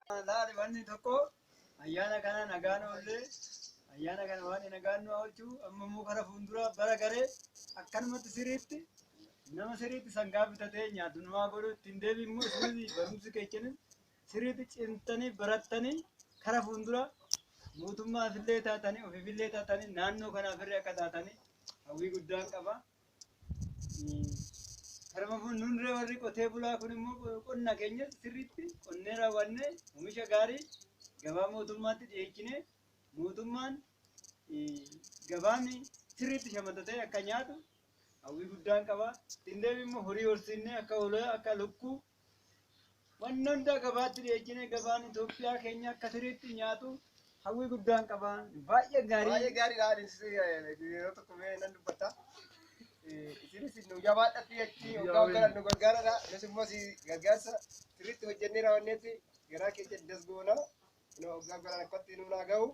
Laali wanni tokko ayyaana kana nagaan oollee ayyaana kana waan nagaan nu oolchuu amma immoo kara fuulduraa bara garee akkanumatti siriitti nama siriitti sangaa bitatee nyaatu namaa godhu ittiin deebi immoo isinis barumsi keechanis siriitti cimtanii barattanii kara fuulduraa mootummaafillee taatanii ofiifillee taatanii naannoo kanaafillee akka taatanii hawwii guddaan qaba. Karma fuulduree warri qotee bulaa kun immoo qonna keenya sirriitti qonnee raawwanne oomisha gaarii gabaa mootummaatti dhiyeechine mootummaan gabaan sirriitti shamatatee akka nyaatu hawwii guddaan qaba. Ittiin deebi immoo horii horsiisnee akka hoolaa akka lukkuu Wanna hundaa gabaatti dhiyeechinee gabaan Itoophiyaa keenya akka siriitti nyaatu hawwii guddaan qaba. Baay'ee gaarii. Baay'ee gaariidha. Anis yeroo tokko mee nan dubbadha. Isinis nu jabaadha fi achi hoggaa hoggaa nu gargaaradha. Nus immoo si gargaarsa sirriitti hojjennee raawwanneetti garaa keenya das goona. Kunoo hoggaa hoggaa rakkootti nu naa gahu.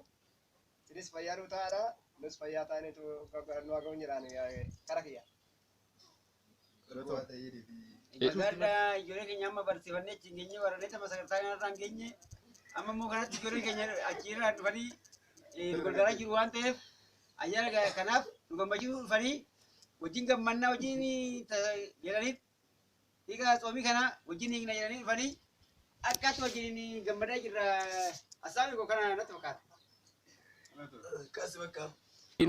Isinis fayyaa nu ta'aadha. Nus fayyaa taanee hoggaa hoggaa nu haa gahu jedhaan kara kiyya. Nagaadhaa ijoollee keenya amma barsiifannee achi hin geenye warreen tapha sagantaa kanarraa hin geenye amma immoo kanatti ijoollee keenya achiirraa dhufanii eh, nu gargaaraa jiru waan ta'eef ayyaana ga- kanaaf nu gammachiisuu dhufanii wajjin gammannaa wajjin ta- jedhaniif hiika tsoomii kana wajjin hiikna jedhanii dhufanii akkaatti wajjin gammadaa jirra asaabii koo kana natti fakkaata. Kasi bakka.